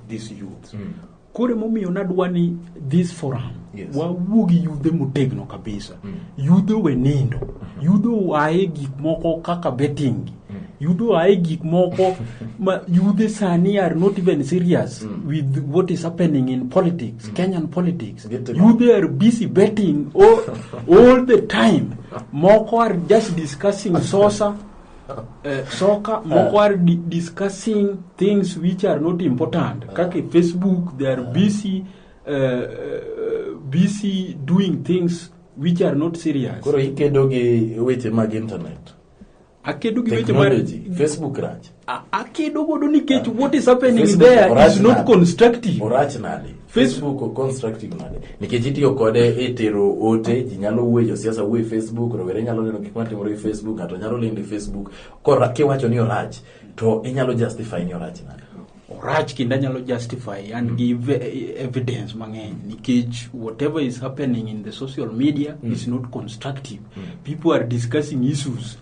this youth mm. koro emomiyo nadwa ni this forum yes. wawuo gi yudhe motegno kabisa mm. yudhe owe nindo mm -hmm. yudhe oaye gik moko kaka betting mm. yudhe oaye gik moko ma yudhe sani are not even serious mm. with what is happening in politics mm. kenyan politics yudhe are busy betting all, all the time moko are just discussing sosa eh, soka moko are di discussing things which are not important kaka e facebook they are busy uh, uh, busy doing things which are not serious koro ikedo gi weche mag internet akedo gi weche mar technology facebook rach a- akedo godo nikech what is happening Facebook there is orach not nade? constructive orach nade Facebook o constructive nade? Nikech itiyo kode e tero ote, ji nyalo wuoyo, josiasa wuoyo e Facebook, rowere nyalo neno gik matimore e Facebook, ng'ato nyalo lendo e Facebook. Kora kiwacho ni orach, to inyalo justify ni orach nade? orach kendo anyalo justify and mm. give eh, evidence mang'eny nikech whatever is happening in the social media mm. is not constructive mm. people are discussing issues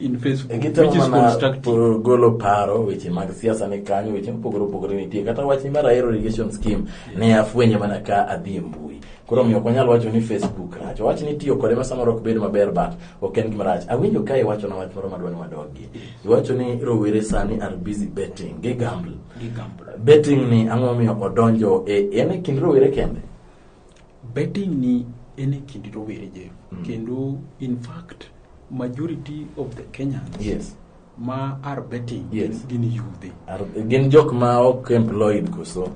in Facebook, which Gitemo is mana constructive. po- golo paro weche mag siasa ni kanyo weche mopogore opogore nitie kata wach ni mar ahero irrigation scheme ne afwenye mana ka adhi e mbui koro omiyo ok wanyal wacho ni facebook rach wach ni tiyo kode ma samoro ok bed maber but ok en gima rach awinjo ka iwacho na wach moro madwa ni wadogi iwacho ni rowere sani are busy betting gi gamble Gigamble. betting ni ang'o omiyo odonjo e en e kind rowere kende betting ni en e kind rowere je kendo in fact majority of the Kenyans yes. ma are betting yes. gin yudhe. Gin jok ma ok employed koso?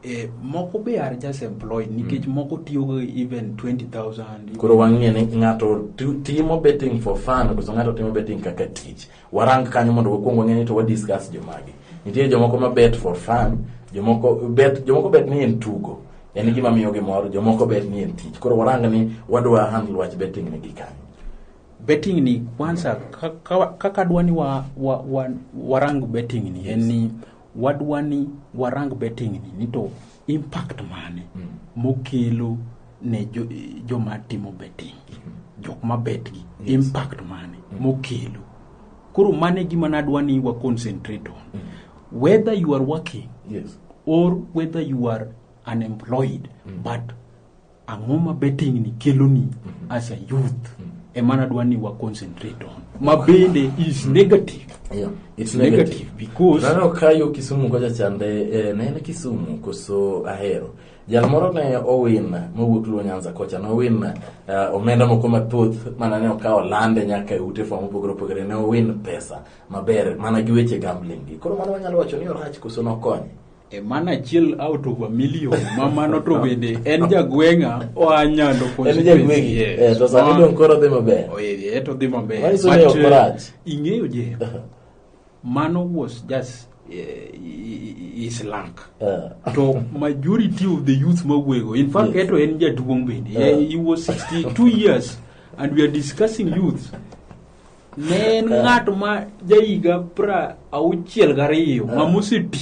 E, moko be are just employed nikech mm. moko tiyogo even 20,000. Koro wang'e ni ng'ato timo betting for fun koso ng'ato timo betting kaka tich. Warang kanyo mondo wakuong wang'e ni to wa discuss jomagi. Nitie jomoko ma bet for fun, jomoko bet jomoko bet ni en tugo. En gima miyo gi mor, jomoko bet ni en tich. Koro warang ni wadwa handle wach betting ni gi kanyo. betting ni kwanza kaka dwani wa, wa, wa, warang betting ni en ni wadwani warang betting ni nito impact mane mokelo ne jo, joma timo betting jok ma bet gi Yes. impact mane mokelo koro mane gima nadwa ni wa concentrate on whether you are working yes or whether you are unemployed but Ang'o ma betting ni keloni mm -hmm. as a youth mm -hmm. ema nadwa ni wa concentrate on ma bende is negative yeah, it's negative, negative because nano kayo Kisumu kocha chande eh, nene Kisumu koso ahero jal moro ne owin mowuok luo nyanza kocha ne owin uh, eh, omenda moko mathoth mana ne okawo lande nyaka e ute fwa mopogore opogore ne owin pesa maber mana gi weche gambling gi koro mano wanyalo wacho ni orach koso nokonye E mano achiel out of a million ma mano to bende en jagweng'a oa nyando constituency yes. Eh, to sani dong koro dhi maber oh, eh, eh, to dhi maber but uh, ing'eyo je mano was just is lank to majority of the youth mawego in fact eto en jaduong' bende he was 62 years and we are discussing youth ne en eh. ng'at ma jahiga pra auchiel gariyo eh. ng'ama oseti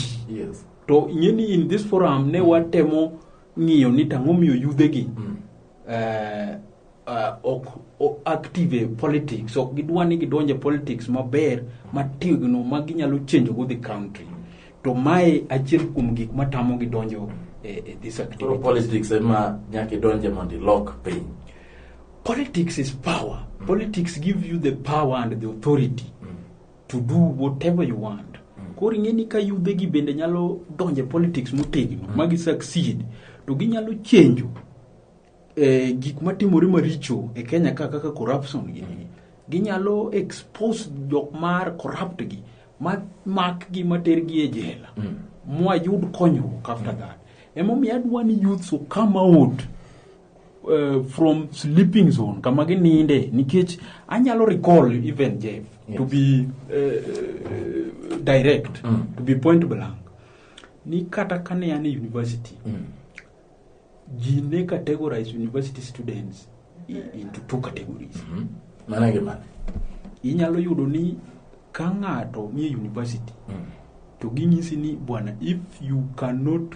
to ing'eni in this forum ne watemo ng'iyo ni tang'o miyo yudhegi mm. eh, ok active e politics ok gidwa ni gidonje politics maber mategno ma ginyalo change go the country to mae achiel kuom gik matamo gidonjo e, e this activity politics ema nyaka idonje mondo ilok piny Politics is power. Mm. Politics give you the power and the authority mm. to do whatever you want. Mm. Koro ing'e ni ka yudhe gi bende nyalo donje politics motegno mm. ma gi succeed to ginyalo chenjo eh, gik matimore maricho e Kenya ka kaka corruption gi mm. ginyalo expose jok mar corrupt gi ma mak gi mater gi e jela mm. mwayud konyruok after mm. that emomiyo adwa ni youths come out uh, from sleeping zone kama gininde nikech anyalo recall even jeff yes. to be uh, direct mm. to be point blank ni kata kane an e university mm. ji ne categorize university students into two categories mm -hmm. mana gi mana inyalo yudo ni ka ng'ato nie university mm. to ginyisi ni bwana if you cannot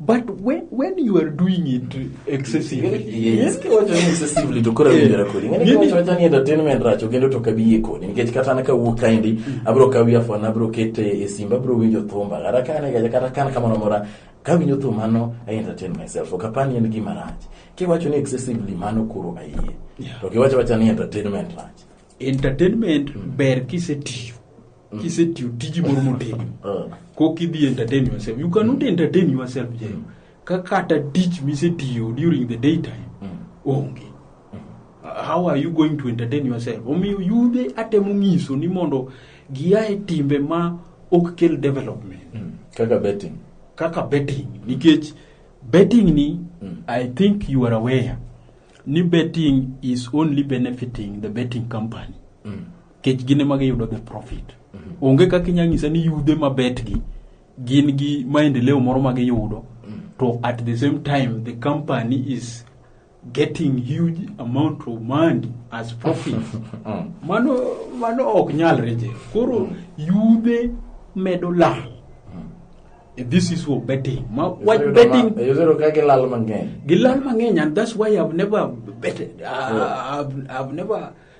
but when, when you are doing it excessively Yes, kiwacho ni excessively to koro awinjora kodi ng'ani Ng'ani- kiwacho wacha ni entertainment rach okendo to kabiye kodi nikech kata an kawuok kaendi abiro kawi afon abiro kete e simba abiro winjo thumba kata ka an kata ka an kamoro amora kawinjo thum mano i entertain myself ok apani en gima rach kiwacho ni excessively mano koro ayie Yeah. to kiwacho wacha ni entertainment rach entertainment ber kisetiyo kisetiyo tiji moro motegno Ah. kok idhi entertain yourself you cannot entertain yourself jayo ka kata tich misetiyo during the daytime onge how are you going to entertain yourself omiyo yudhe atemo ng'iso ni mondo gia e timbe ma ok kel development kaka betting kaka betting nikech betting ni i think you are aware ni betting is only benefiting the betting company kech gine ma giyudo the profit onge kaka inyalo nyisa ni yudhe ma betgi gin gi maendeleo moro ma giyudo to at the same time the company is getting huge amount of money as profit mano mano ok nyalre je koro yudhe medo lal this is what betting ma wach betting Yuzuru ka gilal mang'eny. gilal mang'eny and that's why i've never betted uh, I've, i've never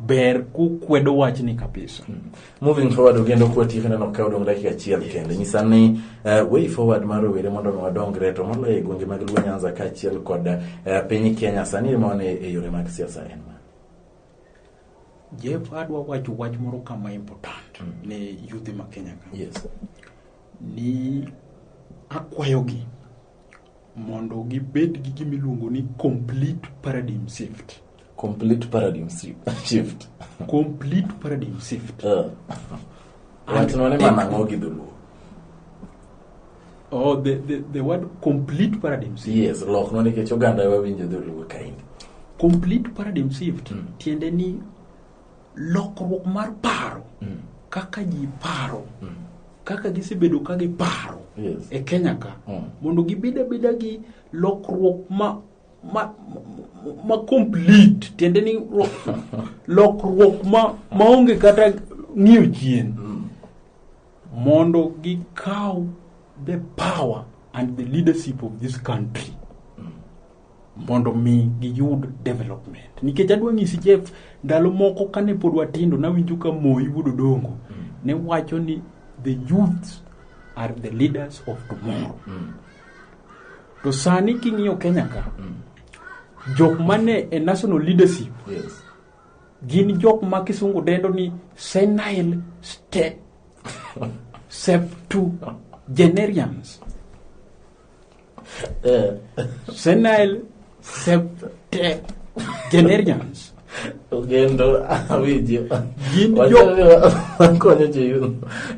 ber kukwedo wachni kabisa mm. moving forward ogendo kwa tiyo kendo nokawo dong dakika achiel kende nyisa ni uh, way forward mar rowere mondo mi wadongre to moloyo e gwenge mag luo nyanza kaachiel kod uh, piny kenya sani mone e yore mag siasa en ma jeff adwa wacho wach moro kama important mm. ne yudhe ma kenya ka yes. ni akwayogi mondo gibed gi gima iluongo ni complete paradigm shift complete paradigm shi- shift complete paradigm shift Eh. wachno ni mana ang'o gi dholuo oh the, the, the word complete paradigm shift yes lokno nikech oganda wawinjo dholuo kaindi complete paradigm shift Mm. tiende ni lokruok mar paro mm. kaka ji paro mm. kaka gisebedo ka giparo yes. e kenya ka mm. mondo gibed abeda gi lokruok ma ma, ma complete tiende ni lokruok ma maonge kata ng'iyo chien mm. mondo gikaw the power and the leadership of this country mondo mi giyud development nikech adwa ng'isi Jeff ndalo moko kane pod watindo nawinjo ka Moi wuod Odongo ne wacho ni the youths are the leaders of tomorrow to sani king'iyo Kenya ka jok mane e national leadership Yes. gin jok ma kisungu dendo ni senile step septuagenarians Evet. Sen Nail septe generians. Ugendo awinji. Gin jo- Wachore wa- wakonyo jo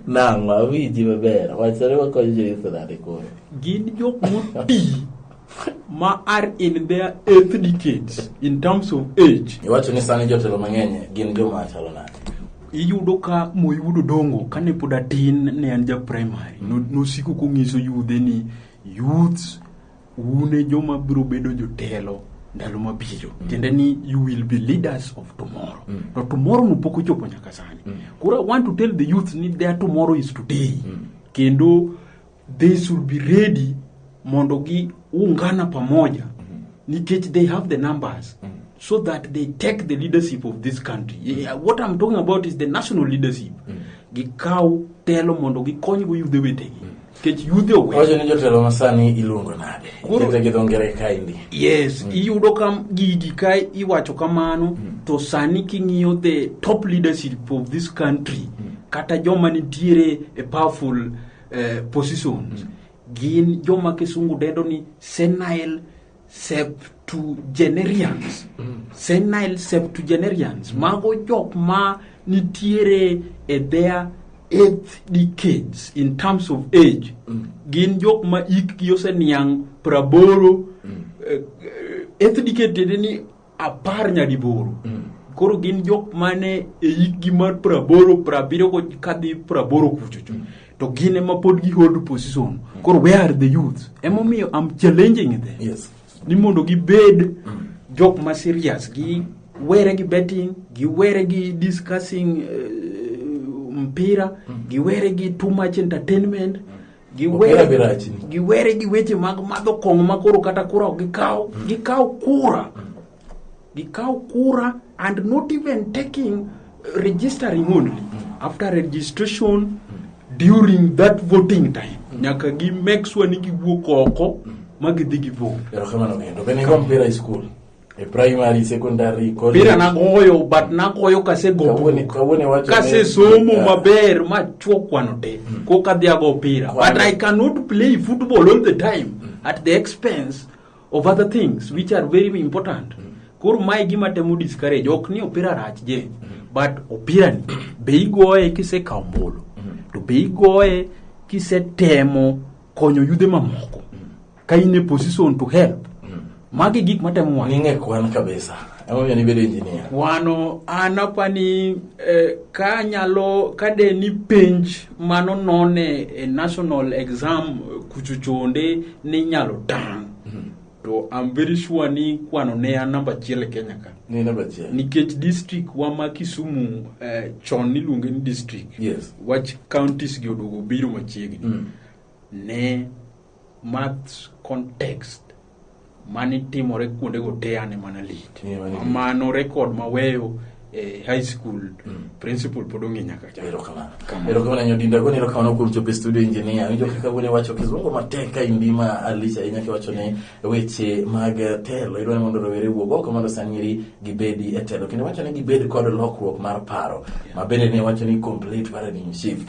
nang'o awinji maber. Wachore wakonyo jo Yuthu nade koro. Gin jok moti ma are in their ethnicates in terms of age. Iwacho ni sani jotelo mang'eny gin joma chalo nade? iyudo ka moyudo dongo kane pod atin ne an ja primary no- nosiko kong'iso yudhe ni youths une joma biro bedo jotelo ndalo mabiro tiende ni you will be leaders of tomorrow to tomorrow no pok ochopo nyaka sani koro i want to tell the youth ni their tomorrow is today kendo they should be ready mondo gi ungana pamoja nikech they have the numbers so that they take the leadership of this country yeah, what i'm talking about is the national leadership gikaw telo mondo gikonygo yudhe wetegi nikech yudhe owe wacho ni jotelo masani iluongo nade Koro- kete gi dho ngere kaendi yes iyudo ka gigi ka iwacho kamano to sani king'iyo the top leadership of this country kata joma nitiere e powerful eh, positions gin joma kisungu dendo ni senile septuagenarians senile septuagenarians mago jok ma nitiere e their eighth decades in terms of age gin jok ma ikgi oseniang' praboro eh, eh, eighth decade tiende ni apar nyadiboro mm. koro gin jok mane e hikgi mar praboro prabiriyo kadhi praboro kuchocho mm. to gin ema pod gi hold position mm. koro where are the youth emomiyo am challenging them yes. ni mondo gibed mm. jok ma serious gi were gi betting gi were gi discussing uh, mpira mm. gi were gi too much entertainment mm. giwere gi weche mag madho kong'o ma koro kata kura ok gikaw mm. gikaw kura mm. gikaw kura and not even taking registering only mm. after registration during that voting time nyaka gi make sure ni giwuok oko ma gidhi gi vote e primary secondary college pira nagoyo but nagoyo kasegomo kasesomo ah. maber machwo kwano te mm. ko kadhi ago pira but i cannot play football all the time mm. at the expense of other things which are very important mm. koro mae gima temo discourage ok ni opira rach je mm. but opira ni be igoye kisekawo mbolo mm. to be igoye kisetemo konyo yudhe mamoko ka in e position to help mm. magi gik matemo wang' ing'e kwan kabisa emomiyo nibedo engineer wano an apani eh, ka nyalo ka de ni penj mano none e national exam kuchuchonde ni nyalo tang mm. to I'm very sure ni kwano ne an namba achiel e Kenya ka ni namba achiel nikech district wa ma Kisumu eh, chon niluonge ni district yes. wach counties gi oduogo biro machiegni mm. ne maths context mane timore kuondego te ane mana lit Yeah, mane lit. mano rekod maweyo e high school Mm. principal pod ong'e nyaka cha erokamano Kamano. erokamano nyo dinda goni erokamano kuom chopo e studio engineer winjo kaka wuone wacho kizungu matek ka indima alich ahinya kiwacho ni weche mag eh, telo idwa ni mondo rowere wuog oko mondo sanyiri gibedi e telo kendo wacho ni gibed kod lokruok mar paro ma bende ne wacho ni complete paradigm shift